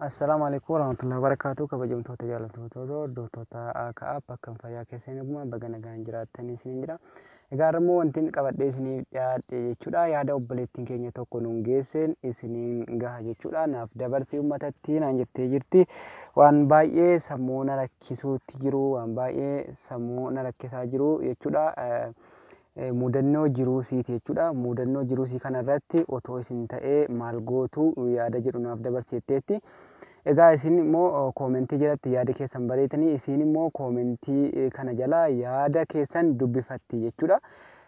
Assalaamu alaikum warahmatullahi wabarakatuh kabajamtoota jaalattoota hordoftoota AKA bakka fayyaa keessa hin eegumaan baga nagaan jiraattan isiniin jedha. Egaa har'a immoo wanti inni qabadhee isiniif dhiyaadhe jechuudha yaada obboleettiin keenya tokko nuun geesseen isiniin gaha jechuudha naaf dabartii uummatatti naan jettee jirti waan baay'ee sammuu na rakkisuutti jiru waan baay'ee sammuu na rakkisaa jiru jechuudha. Mudannoo jiruu siiti jechuudha. Mudannoo jiruu sii kana irratti otoo isin ta'ee maal gootu yaada jedhu naaf dabarsi jetteetti. Egaa isin immoo koomentii jalatti yaada keessan bareetanii isiin immoo koomentii kana jala yaada keessan dubbifatti jechuudha.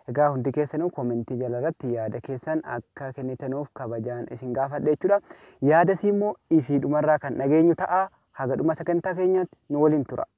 Egaa hundi keessanuu koomentii jala irratti yaada keessan akka kennitanuuf kabajaan isin gaafadha jechuudha. Yaada isii immoo isii dhumarraa kan dhageenyu ta'a. Haga dhuma sagantaa keenyaatti nu waliin tura.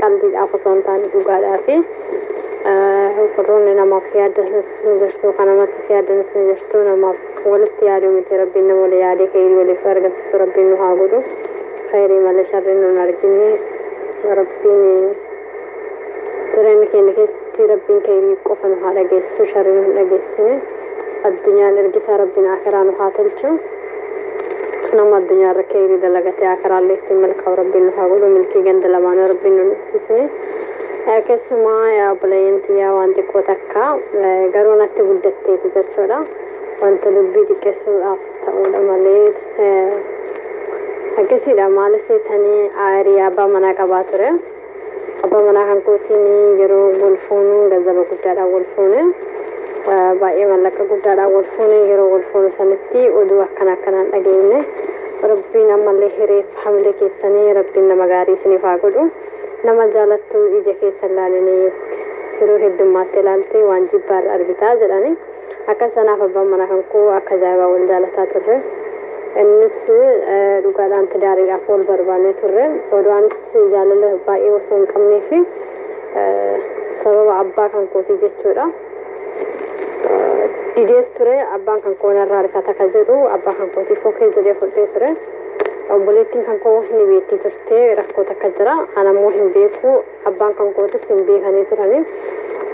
qalbiidhaaf osoo hin taane dhugaadhaa fi warroonni namaaf yaaddanis ni jirtu kan namattis yaaddanis ni jirtu namaaf walitti yaaduu miti rabbiin nama wali yaadee keeyrii waliif argamsiisu rabbiin nu haa godhu keeyrii malee sharriin nun argine rabbiin jireenya keenya keessatti rabbiin keeyrii qofa nu haa dhageessisu sharrii nu hin dhageessine addunyaan ergisaa rabbiin akiraa nu haa tolchu nama addunyaa irra keeyri dalagatee akiraallee ittiin milkaa'u rabbiin nu haa godhu milkii ganda lamaanuu rabbiin nu nuffisne keessumaa yaa obboleeyyan tiyyaa waan xiqqoo takka garuu natti guddatteeti jechuudha wanta dubbii xiqqeessuudhaaf ta'uudha malee akkasiidha maal seetanii aayirii abbaa manaa qabaa ture Abbaa manaa kan kootiin yeroo wal fuunu ganzaba guddaadhaan wal fuune. Baay'ee mallaqa guddaadhaan wal fuune yeroo wal fuunu sanitti oduu akkana akkanaan dhageenye. Rabbiin ammallee hireef hamilee keessanii rabbiin nama gaarii isiniif haa godhu. Nama jaalattu ija keessa hin laalinii yeroo heddummaattee ilaalte waan jibbaarra argitaa jedhani. Akkas anaaf abbaan manaa kan koo akka ajaa'ibaa wal jaalataa turre. Innis dhugaadhaan tidaariidhaaf wal barbaannee turre. Odoo anis jaalala baay'ee osoo hin qabnee fi sababa abbaa kan kootii jechuudha. Didees ture abbaan kan koo narraa rifata kan jedhu abbaa kan kootii fokkee jedhee fudhee ture. Obboleettiin kan koo ni beektii turte rakkoo takka jira. Anammoo hin beeku. Abbaan kan kootis hin beekanii turani.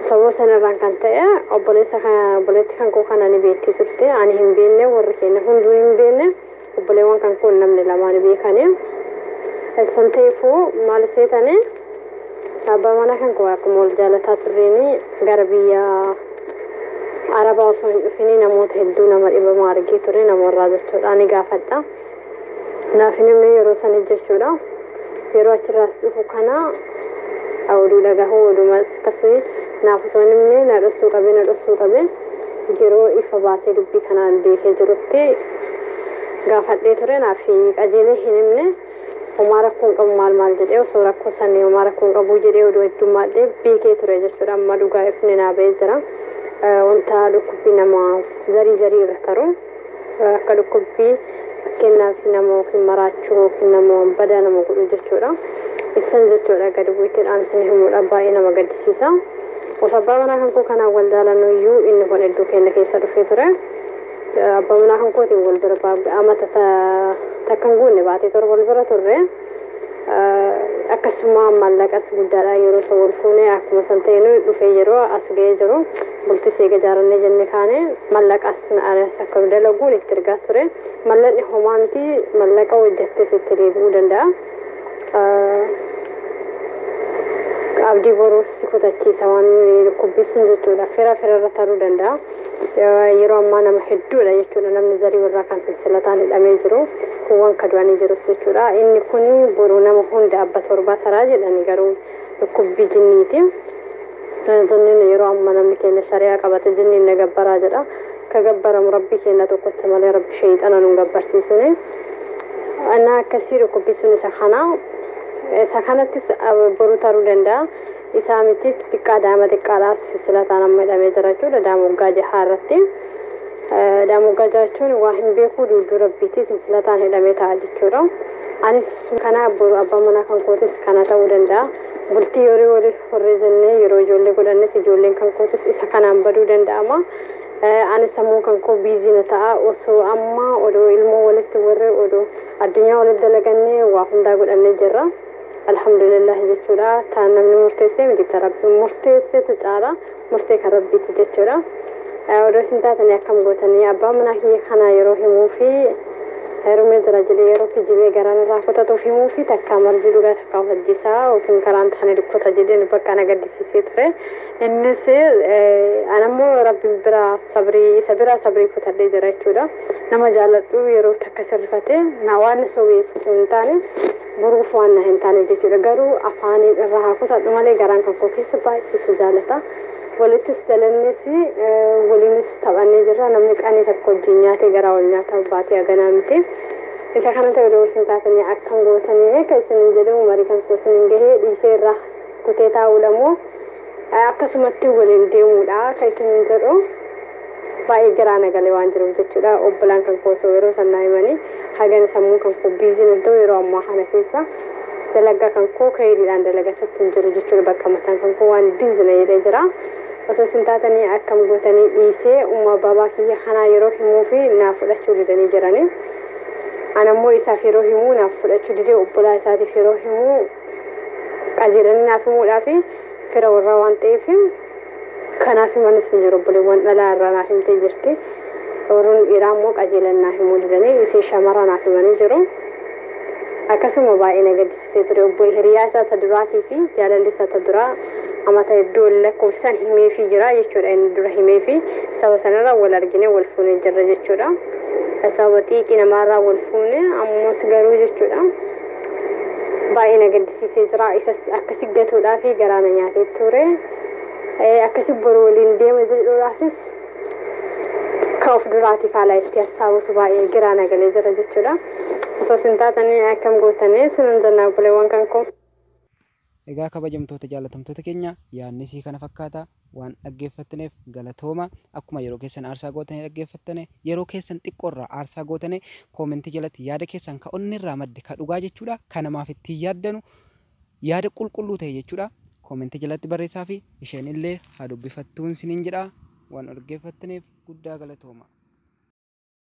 Sababa sanarraan kan ta'e obboleessa kana obboleetti kan koo kana ni beekti turte. Ani hin beekne warri keenya hunduu hin beekne obboleewwan kan koo namni lamaa ni beekani. San ta'eefuu maal seetani abbaa manaa kan koo akkuma wal jaalataa turreeni gara biyya Arabaa osoo hin dhufinii namoota hedduu nama dhibamaa argee ture nama warraa jechuudha ni gaafadha. Naaf hin himne yeroo sana jechuudha. Yeroo achirraas dhufu kana oduu dhagahu odumas akkasii naaf osoo hin himne na dhossuu qabe na dhossuu qabe yeroo ifa baasee dubbii kana beekee jirutti gaafadhee ture naaf qajeelee hin himne homaa rakkoo hin qabu maal maal jedhee osoo rakkoo sanii homaa rakkoo hin qabu jedhee oduu heddummaadhee beekee ture jechuudha amma dhugaa ifni naa ba'ee jira. Wanta dhukkubbii nama zarii zarii irra taru. Akka dhukkubbii fakkeenyaaf nama yookiin maraachuu yookiin nama waan badaa nama godhu jechuudha. Issan jechuudha gadi bu'itti dhaamsine himuudha baay'ee nama gaddisiisa. Of abbaa manaa kan koo kanaan wal jaalannu iyyuu inni kun hedduu keenya keessa dhufee ture. Abbaa manaa kan kootiin wal bira amata takkan guunne baatee torba wal bira turre. akkasuma maallaqas guddaadha yeroo san wal fuune akkuma san ta'e nu dhufee yeroo as ga'ee jiru bultis eega jaarannee jenne kaane mallaqas na arees akka nu dalaguun itti ergaa ture mallaqni homaa miti mallaqa hojjettees itti deebi'uu danda'a. abdii boruus si kutachiisa waan dhukkubbiisuun jechuudha fira fira irra taruu danda'a. yeroo ammaa nama hedduudha jechuudha namni zarii warraa kan sansilataan hidhamee jiru kuuwwan ka du'anii jirus jechuudha inni kun boruu nama hunda abba torbaa taraa jedhani garuu dhukkubbii jinniiti jinniin yeroo amma namni keenya shari'aa qabate jinniin na gabbaraa jedha ka gabbaramu rabbii keenya tokkocha malee rabbi sheeyxana nun gabbarsiisine ana akkasii dhukkubbii sun isa kana isa kanattis boru taruu danda'a isaa miti xiqqaa daa'ima xiqqaadha silsilataan amma hidhamee jira jechuudha daa'ima waggaa jahaa irratti daa'ima waggaa jahaa jechuun waa hin beekuu duuduu rabbiitii silsilataan hidhamee ta'a jechuudha anis kana boru abbaa manaa kan kootis kana ta'uu danda'a bultii horii waliif horree jennee yeroo ijoollee godhannes ijoolleen kan kootis isa kanaan baduu danda'ama ani sammuu kan koo biiziina ta'a osoo amma odoo ilmoo walitti warree odoo addunyaa walitti dalagannee waa hundaa godhannee jirra. Alhamdulillahi jechuudha. Taan namni murteessee miti ta rabbiin murteessetu caala murtee kan rabbiiti jechuudha. Odoo isin taatanii akkam gootanii abbaa manaa kiyya kanaa yeroo himuu fi heerumee jira jedhee yeroo kijibee garaan irraa kutatuuf himuu fi takkaa marzii dhugaa takkaa of ajjeesaa yookiin karaan taane dukkota jedhee nu bakka na gaddisiisee ture. Innis anammoo rabbi biraa sabrii isa biraa sabrii kutadhee jira jechuudha. Nama jaaladhu yeroo takka sirrifatee na waan na sobeef osoo hin taane Boruuf waan na hin taaneef jechuudha. Garuu afaaniin irraa haa kutadhu malee garaan kan koo keessa baay'ee si jaalata. Walittis dalannee fi waliinis taphannee jirra. Namni qanii tokko wajjin nyaatee garaa wal nyaata baatii haganaa miti. Isa kana ta'e odoo isin taatanii akkam gootanii eeka isiniin jedhee umarii kan koo isiniin gahee dhiisee irraa kutee taa'uudha moo akkasumatti waliin deemuudha kan isiniin jedhu. Baay'ee garaa na galee waan jiruuf jechuudha. Obbolaan kan koo osoo yeroo san naa himanii hagana sammuun kan koo biiziin iddoo yeroo ammaa kana keessa dalagaa kan koo kayiriidhaan dalagachatti hin jiru jechuudha. Bakka mataan kan koo waan biizi na jedhee jira. Osoo isin taatanii akkam gootanii dhiisee umma baabaa kiyya kanaa yeroo himuu fi naaf fudhachuu didanii jiranii. Ana immoo isaaf yeroo himuu naaf fudhachuu didee obbolaa isaatiif yeroo himuu qajeelanii naaf himuudhaa fi fira warraa waan ta'eef Kanaaf himan isin jiru obboleewwan dhalaa irraa naa himtee jirti. Warroonni dhiiraa immoo qajeelan naa himuu didanii isin shamarra naaf himanii jiru. Akkasuma baay'ee na gaddisiisee ture obbolee hiriyaa isaa ta duraatii fi jaalalli isaa ta duraa amata hedduu wal lakkoofsisan himeefii jira jechuudha inni dura himeefii saba sanarra wal argine wal fuune jirra jechuudha. Sababa xiiqii namaarraa wal fuune ammas garuu jechuudha. baay'ee na gaddisiisee jira isas akkasi gatuudhaaf garaa na nyaatee ture akkasi boru waliin deema jedhuudhaafis ka of duraatiif haala itti hassaabutu baay'ee giraa na galee jira jechuudha osoo sin taatanii akkam gootanii sinan jennaa buleewwan kan koo. Egaa kabajamtoota jaallatamtoota keenya yaadni isii kana fakkaata. Waan dhaggeeffatneef galatooma. Akkuma yeroo keessan aarsaa gootanii dhaggeeffattane yeroo keessan xiqqoo irraa aarsaa gootane koomentii jalatti yaada keessan ka onnee irraa madde ka dhugaa jechuudha ka namaaf ittiin yaaddanu yaada qulqulluu ta'e jechuudha koomentii jalatti barreessaa fi isheen illee haa dubbifattuun siniin jedha waan dhaggeeffatneef guddaa galatooma.